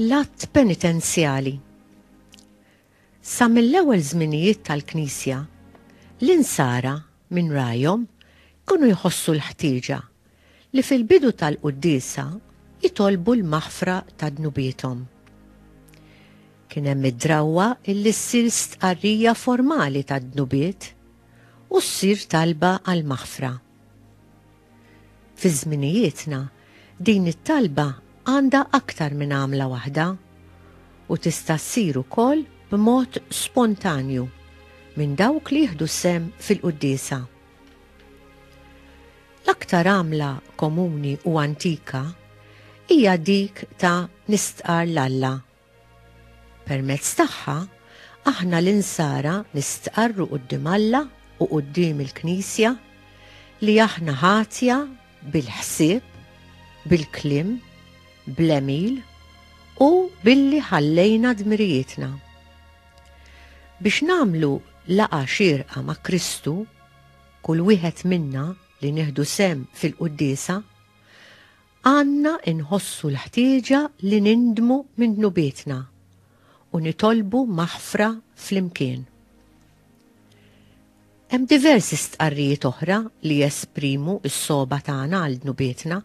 L-att penitenzjali. Sa mill-ewwel żminijiet tal-Knisja, l-insara minn ragħajhom jkunu jħossu l-ħtieġa li fil-bidu tal-quddiesa jitolbu l-maħfra ta' dnubiethom. Kien hemm id-drawwa illi ssir stqarrija formali tad-dnubiet u ssir talba għall-maħfra. Fi żminijietna, din it-talba għandha aktar minn għamla waħda u tista' ssir ukoll b'mod spontanju minn dawk li jieħdu sehem fil-quddiesa. L-aktar għamla komuni u antika hija dik ta' nistqarr 'l Alla Permezz tagħha, aħna l-Insara nistqarru quddiem Alla u quddiem il-Knisja li aħna ħatja bil-ħsieb, bil-kliem, bl-għemil u billi ħallejna dmirijietna. Biex nagħmlu laqgħa xierqa ma' Kristu, kull wieħed minna li nieħdu sehem fil-Quddiesa, Għandna nħossu l-ħtieġa li nindmu minn dnubietna u nitolbu maħfra flimkien. Hemm diversi stqarrijiet oħra li jesprimu s-sogħba tagħna għal dnubietna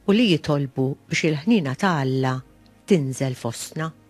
u li jitolbu biex il-ħniena ta' Alla tinżel fostna.